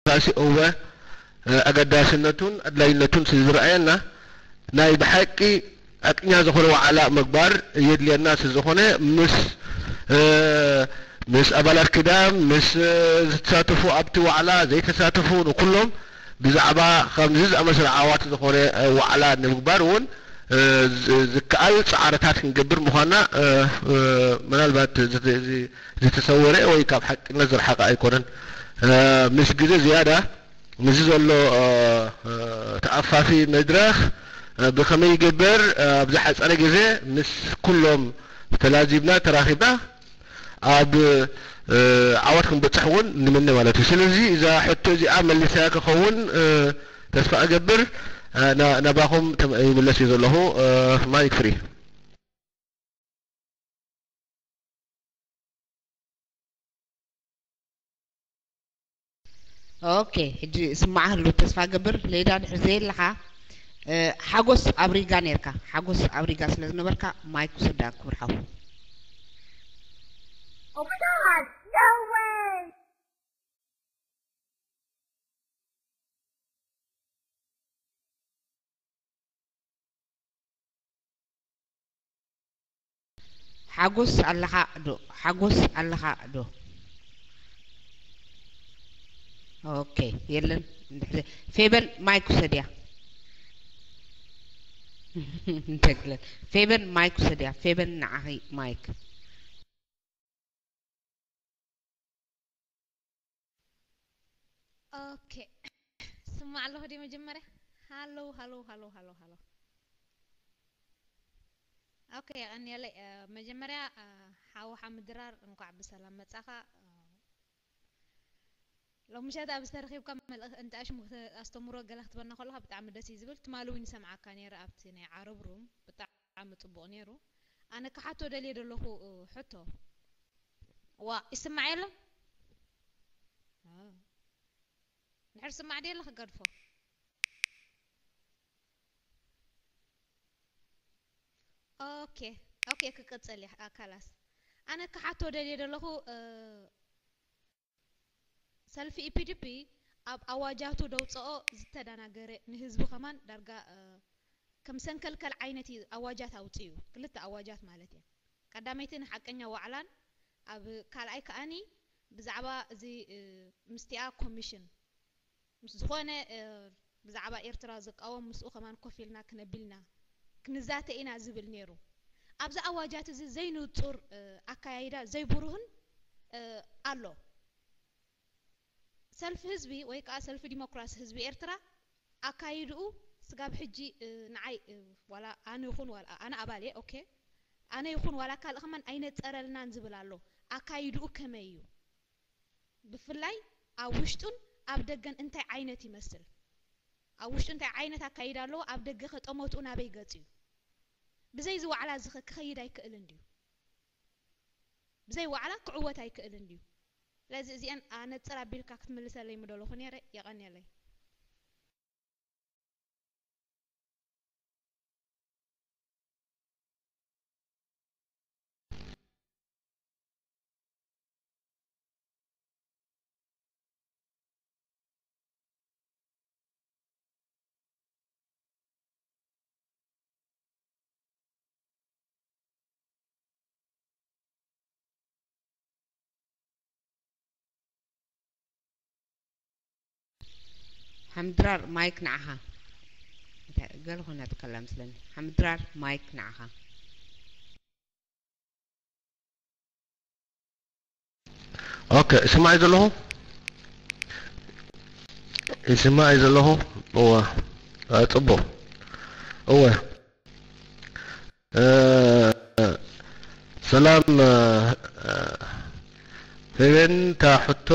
ዲሞክራሲ እወ ኣገዳስነቱን ኣድላይነቱን ስለዝረኣየና ናይ ብሓቂ ሓቅኛ ዝኾነ ዋዕላ ምግባር የድልየና ስለዝኾነ ምስ ምስ ኣባላት ኪዳን ምስ ዝተሳተፉ ኣብቲ ዋዕላ ዘይተሳተፉ ንኩሎም ብዛዕባ ከምዚ ዝኣመሰለ ዓዋቲ ዝኾነ ዋዕላ ንምግባር እውን ዝከኣል ፃዕርታት ክንገብር ምዃንና ምናልባት እዚ ዝተሰወረ ወይ ካብ ሓቅነት ዝረሓቐ ኣይኮነን። ምስ ግዜ ዝያዳ ምስዚ ዘሎ ተኣፋፊ መድረኽ ብኸመይ ይግበር ኣብ ዝሓጸረ ግዜ ምስ ኩሎም ተላዚብና ተራኺብና ኣብ ዓወት ክንበጽሕ እውን ንምነ ማለት እዩ። ስለዚ እዛ ሕቶ እዚኣ መሊሰያ ክኸውን ተስፋ እገብር። ናባኹም ይምለስ እየ ዘለኹ። ማይክ ፍሪ። ኦኬ ሕጂ ስማዕ ህሉ ተስፋ ገብር ሌዳ ድሕር ዘየለኻ ሓጎስ ኣብ ሪጋ ነርካ ሓጎስ ኣብ ሪጋ ስለ ዝነበርካ ማይክ ውሰዳ ክብር ሓው ኦክቶማስ ደወይ ሓጎስ ኣለኻ ዶ ሓጎስ ኣለኻ ዶ ኦኬ የለን እንድሕር ፌበን ማይክ ውሰድያ እንተግለ ፌበን ማይክ ውሰድያ ፌበን ንዓኺ ማይክ ኦኬ ስማዕ ኣለኹ ድየ መጀመርያ ሃሎው ሃሎው ሃሎው ሃሎው ሃሎው ኦኬ የቐንየለይ እ፣ መጀመርያ እ፣ ሓው ሓምድራር እንኳዕ ብሰላም መጻኻ እ፣ ሎም ምሸት ኣብ ዝተረኺብካ መልእኽ እንተ ኣሽሙ ክተ- ኣስተምሮ ገለ ክትበና ከለኻ ብጣዕሚ ደስ እዩ ዝብል ትማሊ እውን ይሰምዓካ ነይረ ኣብቲ ናይ ዓረብ ሩም ብጣዕሚ ብጣዕሚ ጽቡቅ ኔሩ ኣነ ክሓቶ ደልየ ደለኩ ሕቶ ዋእ ይስማዕ የለን ድሕር ስማዕ ድየለ ክገድፎ ኦኬ ኦኬ ክቅጽል እያ ካላስ ኣነ ክሓቶ ደልየ ደለኩ ሰልፊ ኢፒዲፒ ኣብ ኣዋጃቱ ደውፀኦ ዝተዳናገረ ንህዝቢ ከማን ዳርጋ ከም ሰንከልከል ዓይነት እዩ ኣዋጃት ኣውፂኡ ክልተ ኣዋጃት ማለት እየን ቀዳመይቲ ንሓቀኛ ዋዕላን ኣብ ካልኣይ ከኣኒ ብዛዕባ እዚ ምስቲኣ ኮሚሽን ምስ ዝኾነ ብዛዕባ ኤርትራ ዝቃወም ምስኡ ከማን ኮፍ ኢልና ክነቢልና ክንዛተ ኢና ዝብል ኔሩ። ኣብዚ ኣዋጃት እዚ ዘይንጹር ኣካያይዳ ዘይቡሩህን ኣሎ። ሰልፊ ህዝቢ ወይ ከኣ ሰልፊ ዲሞክራሲ ህዝቢ ኤርትራ ኣካይድኡ ስጋብ ሕጂ ንዓይ ዋላ ኣነ ይኹን ዋላ ኣነ ኣባል እየ ኦኬ ኣነ ይኹን ዋላ ካልእ ከማን ኣይነጸረልናን ዝብል ኣሎ ኣካይድኡ ከመይ እዩ ብፍላይ ኣብ ውሽጡን ኣብ ደገን እንታይ ዓይነት ይመስል፣ ኣብ ውሽጡ እንታይ ዓይነት ኣካይዳ ኣለዎ፣ ኣብ ደገኸ ጠመትኡ ናበይ ገጽ'ዩ፣ ብዘይ እዚ ዋዕላ እዚኸ ክኸይድ ኣይክእልን ድዩ፣ ብዘይ ዋዕላ ክዕወት ኣይክእልን ድዩ፣ ስለዚ እዚኤን ኣነጽር ኣቢልካ ክትምልሰለይ ምደለኹ ኔረ፣ የቐኔለይ። ሓምድራር ማይክ ንዓኻ እንታይ ገለ ኮይና ትከላ መስለኒ ሓምድራር ማይክ ንዓኻ ኦከ ይስማዕ እዩ ዘለኹ ይስማዕ እዩ ዘለኹ እወ ፅቡቕ እወ ሰላም ፌቤን እታ ሕቶ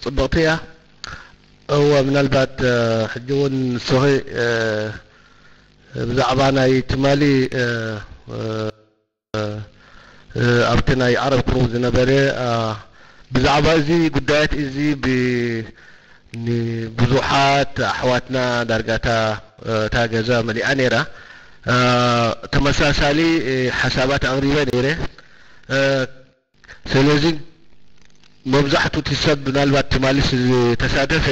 ፅብቕቲ እያ እወ ምናልባት ሕጂ እውን ንስኺ ብዛዕባ ናይ ትማሊ ኣብቲ ናይ ዓረብ ቅርቡ ዝነበረ ብዛዕባ እዚ ጉዳያት እዚ ብ ንብዙሓት ኣሕዋትና ዳርጋ እታ እታ ገዛ መሊኣ ነይራ ተመሳሳሊ ሓሳባት ኣቕሪበ ነይረ። ሰለዚ መብዛሕቱ እቲ ሰብ ምናልባት ትማሊ ዝተሳተፈ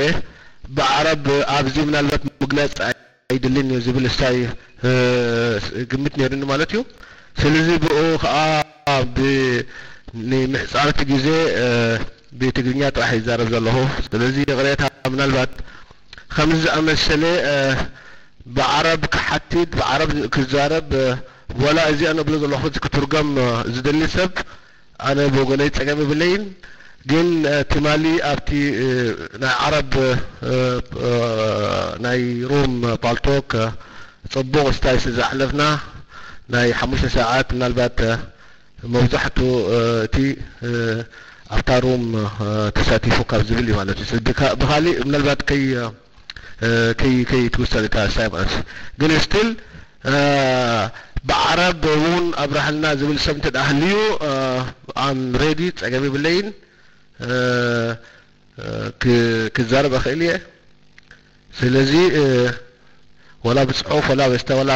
ብኣዕራብ ኣብዚ ምናልባት ምግላጽ ኣይድልን እዩ ዝብል እስታይ ግምት ነይሩኒ ማለት እዩ ሰለዚ ብኡ ከኣ ብ ንምሕጻር እቲ ግዜ ብትግርኛ ጥራሕ ይዛረብ ዘለኹ ሰለዚ ይቕሬታ ምናልባት ከምዚ ዝኣመሰለ ብዓረብ ክሓትት ብዓረብ ክዛረብ ዋላ እዚ ኣነ እብሎ ዘለኹ እዚ ክትርጎም ዝደሊ ሰብ ኣነ ብወገነይ ጸገም የብለይን ግን ትማሊ ኣብቲ ናይ ዓረብ ናይ ሩም ፓልቶክ ጽቡቕ ስታይ ስለ ዘሕለፍና ናይ ሓሙሽተ ሰዓት ምናልባት መብዛሕቱ እቲ ኣብታ ሩም ተሳቲፉ ካብ ዝብል እዩ ማለት እዩ ብኻሊእ ምናልባት ከይ ከይ ከይ ትውሰን እታ ሳይፕረስ ግን ስቲል ብዓረብ እውን ኣብራህልና ዝብል ሰብ እንተ ሃልዩ ኣም ሬዲ ጸገም ይብለይን ክዛረብ እኽእል እየ ስለዚ ወላ ብጽሑፍ ወላ በስተ ወላ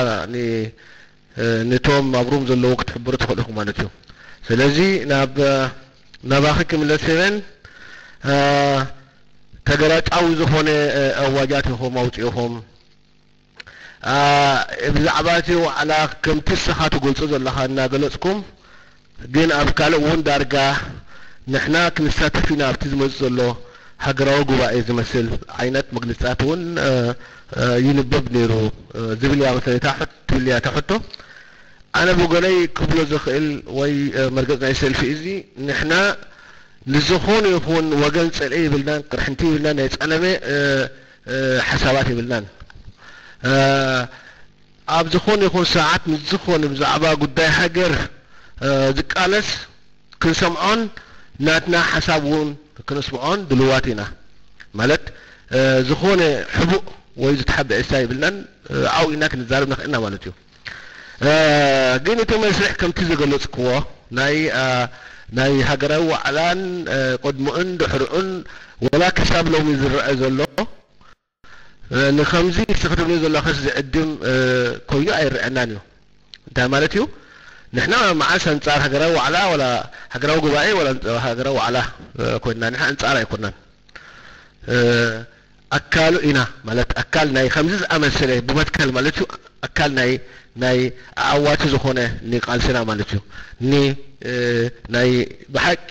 ንቶም ኣብ ሩም ዘለዉ ክትሕብሩ ትክእሉ ኢኩም ማለት እዩ ስለዚ ናብ ናባኪ ክምለስ ሄቨን ተገላጫዊ ዝኮነ ኣዋጃት ኢኩም ኣውጺኢኩም ብዛዕባ እቲ ዋዕላ ከምቲ ንስካ ትገልጾ ዘለካ እናገለጽኩም ግን ኣብ ካልእ እውን ዳርጋ ንሕና ክንሳተፍ ኢና ኣብቲ ዝመጽእ ዘሎ ሃገራዊ ጉባኤ ዝመስል ዓይነት መግልጺታት እውን ይንበብ ነይሩ ዝብል እያ መሰለኒ እታ ሕቶ ትብል እያ እታ ሕቶ። ኣነ ብወገነይ ክብሎ ዝኽእል ወይ መርገጽ ናይ ሰልፊ እዚ ንሕና ንዝኾነ ይኹን ወገን ጽልኢ የብልናን ቅርሕንቲ የብልናን ናይ ጸለመ ሓሳባት የብልናን። ኣብ ዝኾነ ይኹን ሰዓት ንዝኾነ ብዛዕባ ጉዳይ ሃገር ዝቃለስ ክንሰምዖን ናትና ሓሳብ ውን ክነስምዖን ድልዋት ኢና ማለት ዝኾነ ሕቡእ ወይ ዝተሓበኤ ስታ የብልናን ኣብኡ ኢና ክንዛረብ ንኽእል ኢና ማለት እዩ ግን እቲ መስርሕ ከምቲ ዝገለጽክዎ ናይ ናይ ሃገራዊ ዋዕላን ቅድሙኡን ድሕሩኡን ወላ ክሳብ ሎሚ ዝረኣ ዘሎ ንኸምዚ ንስኺ ትብልዮ ዘሎኽስ ዝዕድም ኮይኑ ኣይረኣናን እዩ። እንታይ ማለት እዩ? ንሕና መዓስ ኣንጻር ሃገራዊ ዋዕላ ዋላ ሃገራዊ ጉባኤ ዋላ ሃገራዊ ዋዕላ ኮይንና? ንሕና ኣንጻር ኣይኮናን። ኣካሉ ኢና ማለት ኣካል ናይ ከምዚ ዝኣመሰለ ብመትከል ማለት እዩ። ኣካል ናይ ናይ ኣዐዋቲ ዝኾነ ን ቃልስና ማለት እዩ ን ናይ ብሓቂ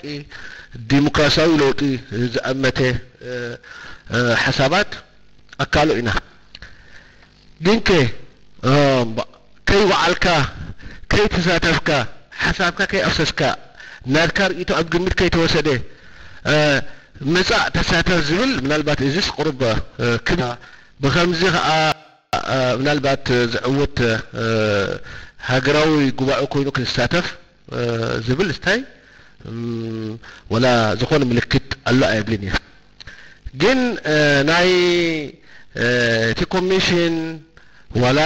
ዲምክራሲያዊ ለውጢ ዝኣመተ ሓሳባት ኣካሉ ኢና ግን ከ ከይ ወዓልካ ከይ ተሳተፍካ ሓሳብካ ከይ ኣፍሰስካ ናትካ ርእይቶ ኣብ ግምት ከይ ተወሰደ ምጻእ ተሳተፍ ዝብል ምናልባት እዚስ ቁሩብ ክብ ብኸምዚ ከኣ ምናልባት ዝዕወት ሃገራዊ ጉባኤ ኮይኑ ክንሳተፍ ዝብል ስታይ ወላ ዝኾነ ምልክት ኣሎ ኣይብልን እየ ግን ናይ እቲ ኮሚሽን ዋላ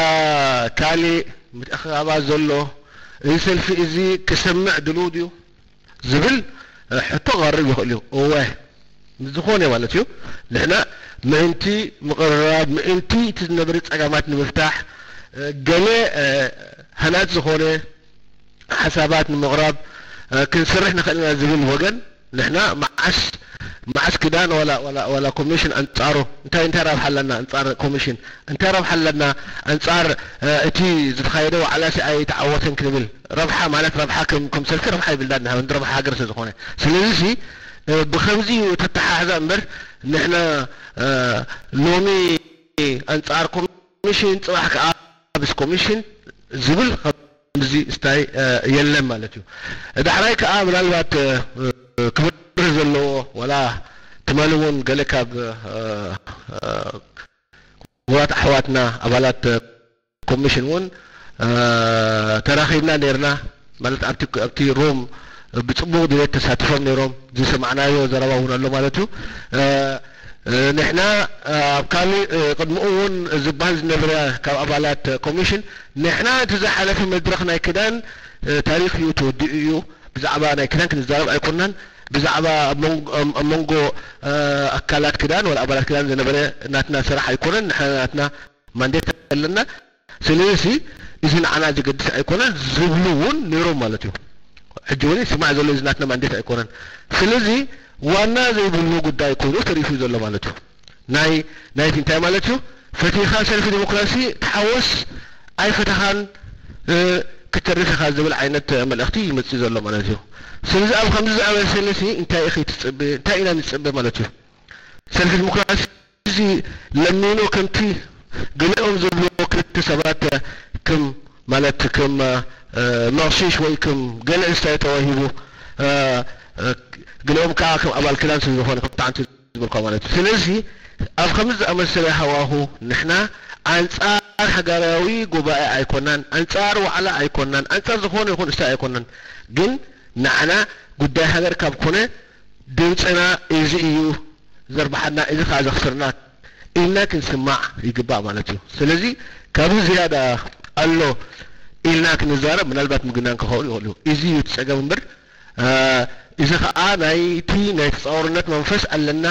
ካሊእ ምትእኽኻባት ዘሎ እዚ ሰልፊ እዚ ክሰምዕ ድሉው ድዩ? ዝብል ሕቶ ክቐርብ ይኽእል እዩ። እወ፣ ንዝኾነ ማለት እዩ፣ ንሕና ምእንቲ ምቕርራብ፣ ምእንቲ እቲ ዝነበረ ጸገማት ንምፍታሕ ገለ ሃናጺ ዝኾነ ሓሳባት ንምቕራብ ክንሰርሕ ንኽእል ኢና ዝብል ወገን ንሕና መዓስ መዓስ ክዳን ዋላ ዋላ ዋላ ኮሚሽን ኣንጻሩ እንታይ እንታይ ረብሓ ኣለና ኣንጻር ኮሚሽን እንታይ ረብሓ ኣለና ኣንጻር እቲ ዝተኻየደ ዋዕላሲ ኣይተዓወተን ክንብል ረብሓ ማለት ረብሓ ከም ከም ሰልፊ ረብሓ ይብልዳድ ንሃ እንድ ረብሓ ሃገር ስለዝኾነ ስለዚ ሲ ብኸምዚ እዩ እቲ ኣተሓሕዛ እምበር ንሕና ሎሚ ኣንጻር ኮሚሽን ጽባሕ ከኣ ምስ ኮሚሽን ዝብል ከምዚ ስታይ የለን ማለት እዩ ዳሕራይ ከኣ ምናልባት ክብርህ ዘለዎ ዋላ ትማሊ እውን ገለ ካብ ክቡራት ኣሕዋትና ኣባላት ኮሚሽን እውን ተራኺብና ነይርና። ማለት ኣብቲ ኣብቲ ሮም ብጽቡቕ ድሌት ተሳቲፎም ነይሮም። ዝሰማዕናዮ ዘረባ እውን ኣሎ ማለት እዩ። ንሕና ኣብ ካልእ ቅድምኡ እውን ዝበሃል ዝነበረ ካብ ኣባላት ኮሚሽን ንሕና እቲ ዝሓለፈ መድረኽ ናይ ክዳን ታሪኽ እዩ ተወዲኡ እዩ። ብዛዕባ ናይ ክዳን ክንዛረብ ኣይኮናን። ብዛዕባ ኣብ መንጎ ኣብ መንጎ ኣካላት ክዳን ወላ ኣባላት ክዳን ዝነበረ ናትና ስራሕ ኣይኮነን። ንሕና ናትና። ማንዴት ኣለና ስለዚ እዚ ንዓና ዘገድስ ኣይኮነን ዝብሉ እውን ነይሮም ማለት እዩ ሕጂ እውን ይስማዕ ዘሎ እዚ ናትና ማንዴት ኣይኮነን ስለዚ ዋና ዘይብሉ ጉዳይ ኮይኑ ተሪፉ እዩ ዘሎ ማለት እዩ ናይ ናይቲ እንታይ ማለት እዩ ፈቲኻ ሰልፊ ዲሞክራሲ ተሓወስ ኣይፈተኻን ክትተርፍ ኢኻ ዝብል ዓይነት መልእኽቲ እዩ ዝመጽእ ዘሎ ማለት እዩ ስለዚ ኣብ ከምዚ ዝኣመሰለሲ እንታይ ኢኺ ትጽበ እንታይ ኢና ንጽበ ማለት እዩ ሰልፊ ዲሞክራሲ እዚ ለሚኖ ከምቲ ገሊኦም ዝብልዎ ክልተ ሰባት ክም ማለት ክም መቕሺሽ ወይ ክም ገለ እስታይ ተዋሂቡ ገሊኦም ክኣ ክም ኣባል ክዳን ስለ ዝኾነ ከምቲ ሓንቲ ዝበልክዋ ማለት እዩ። ስለዚ ኣብ ከምዚ ዝኣመሰለ ሃዋሁ ንሕና ኣንጻር ሃጋራዊ ጉባኤ ኣይኮናን፣ ኣንጻር ዋዕላ ኣይኮናን፣ ኣንጻር ዝኾነ ይኹን እስታይ ኣይኮናን ግን ንዓና ጉዳይ ሃገር ካብ ኮነ፣ ድምጽና እዚ እዩ ዘርብሓና እዚ ከኣ ዘኽስርና ኢልና ክንስማዕ ይግባእ ማለት እዩ። ስለዚ ካብዚ ዝያዳ ኣሎ ኢልና ክንዛረብ ምናልባት ምግናን ክኸውን ይኽእል እዩ። እዚ እዩ እቲ ጸገም እምበር እዚ ከኣ ናይቲ ናይ ተጻዋርነት መንፈስ ኣለና፣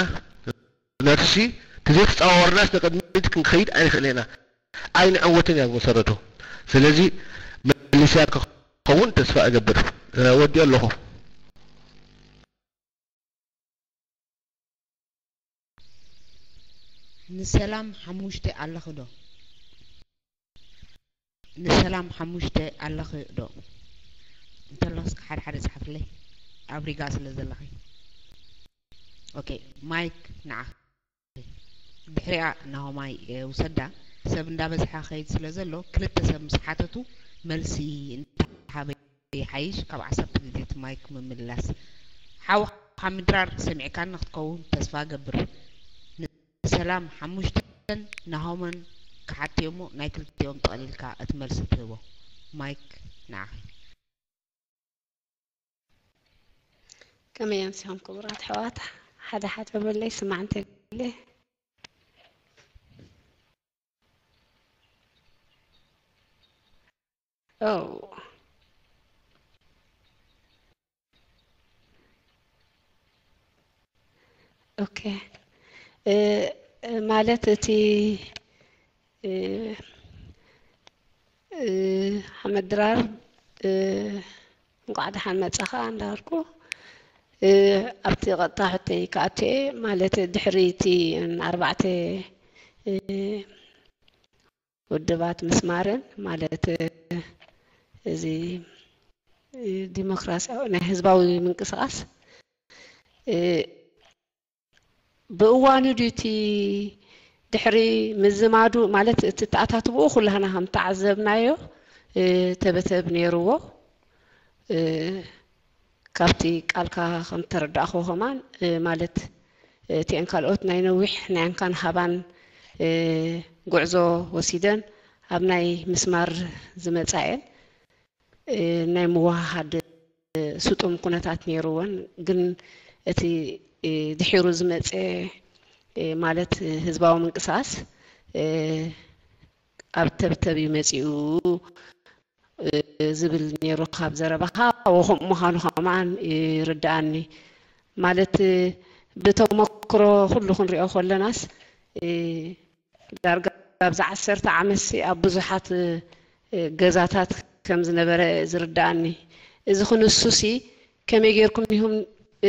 ነፍሲ ተዘይተጻዋወርናስ ንቕድሚት ክንከይድ ኣይንኽእልን ኢና ኣይንዕወትን እያ ብመሰረቱ ስለዚ መሊስያ ክኸውን ተስፋ እገብር ወዲኦ ኣለኹ። ንሰላም ሓሙሽተ ኣለኺ ዶ? ንሰላም ሓሙሽተ ኣለኺ ዶ እንተለኽስ ሓደ ሓደ ጻሓፍለይ ኣብ ሪጋ ስለ ዘለኺ ኦኬ ማይክ ንዓኺ ድሕሪኣ ናሆማይ ውሰዳ ሰብ እንዳበዝሓ ኸይድ ስለ ዘሎ ክልተ ሰብ ምስ ሓተቱ መልሲ እንተሃበ ይሓይሽ ካብ ዓሰርተ ግዜ እቲ ማይክ ምምልላስ ሓውኻ ምድራር ሰሚዕካኒ ክትከውን ተስፋ ገብር ሰላም ሓሙሽተን ናሆምን ክሓድቲ እዩ'ሞ ናይ ክልቲኦም ጠቕሊልካ እቲ መልሲ ትህቦ። ማይክ ንዓኺ። ከመይ ኣምሲኹም ክቡራት ኣሕዋት ሓደ ሓደ በለይ ስማዕ እንተይለ Oh. ኦኬ እ እ ማለት እቲ እ እ ሓመድ ድራር እ እንኳዕ ደሓን መጻኻ እንዳበልኩ እ ኣብቲ ቀጥታ ሕቶይ ክኣቱ እየ ማለት ድሕሪ እቲ ኣርባዕተ እ ውድባት ምስማርን ማለት እዚ ዲሞክራሲያዊ ናይ ህዝባዊ ምንቅስቓስ ብእዋኑ ድዩ እቲ ድሕሪ ምዝማዱ ማለት እቲ ተኣታትብኡ ኩላህና ከም ተዓዘብናዮ ተበተብ ነይርዎ ካብቲ ቃልካ ከም ተረዳእክዎ ከማን ማለት እቲኤን ካልኦት ናይ ነዊሕ ናይ እንካን ሃባን ጉዕዞ ወሲደን ኣብ ናይ ምስማር ዝመጻኤን ናይ ምውሃሃድ ስጡም ኩነታት ኔሩወን ግን እቲ ድሒሩ ዝመጽኤ ማለት ህዝባዊ ምንቅስቃስ ኣብ ተብተብ እዩ መጺኡ ዝብል ኔሩ ካብ ዘረባኻ ወኹም ምዃኑ ከማን ይርድኣኒ ማለት ብተሞክሮ ኩሉ ክንሪኦ ኮለናስ ዳርጋ ኣብዚ ዓሰርተ ዓመትሲ ኣብ ብዙሓት ገዛታት ከም ዝነበረ ዝርድኣኒ እዚ ክንሱሲ ከመይ ጌርኩም ኢኹም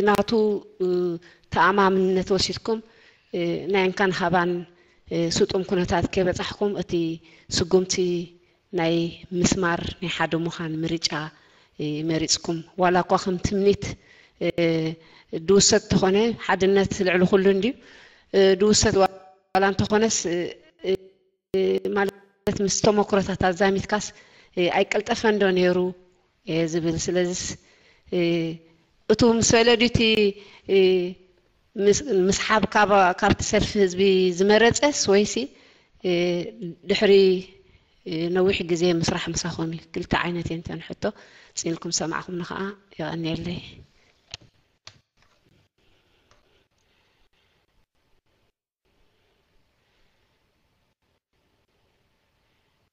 ናቱ ተኣማምነት ወሲድኩም ናይ እንካን ሃባን ስጡም ኩነታት ከይበጻሕኩም እቲ ስጉምቲ ናይ ምስማር ናይ ሓደ ሙኻን ምርጫ መሪጽኩም ዋላ እኳ ከም ትምኒት ድውሰድ ተኾነ ሓድነት ልዕሊ ኩሉ እንድዩ ድውሰድ ዋላ እንተኾነስ ማለት ምስ ተሞክሮታት ኣዛሚትካስ ኣይቀልጠፈን ዶ ኔሩ እየ ዝብል ስለዝስ እቱ ምስ በለ ድዩ እቲ ምስሓብ ካብቲ ሰልፊ ህዝቢ ዝመረጸስ ወይሲ ድሕሪ ነዊሕ ግዜ ምስራሕ ምሳኹም እዩ ክልተ ዓይነት እየን እተን ሕቶ ጽንልኩም ሰማዕኹምኒ ከኣ የቐንየለይ።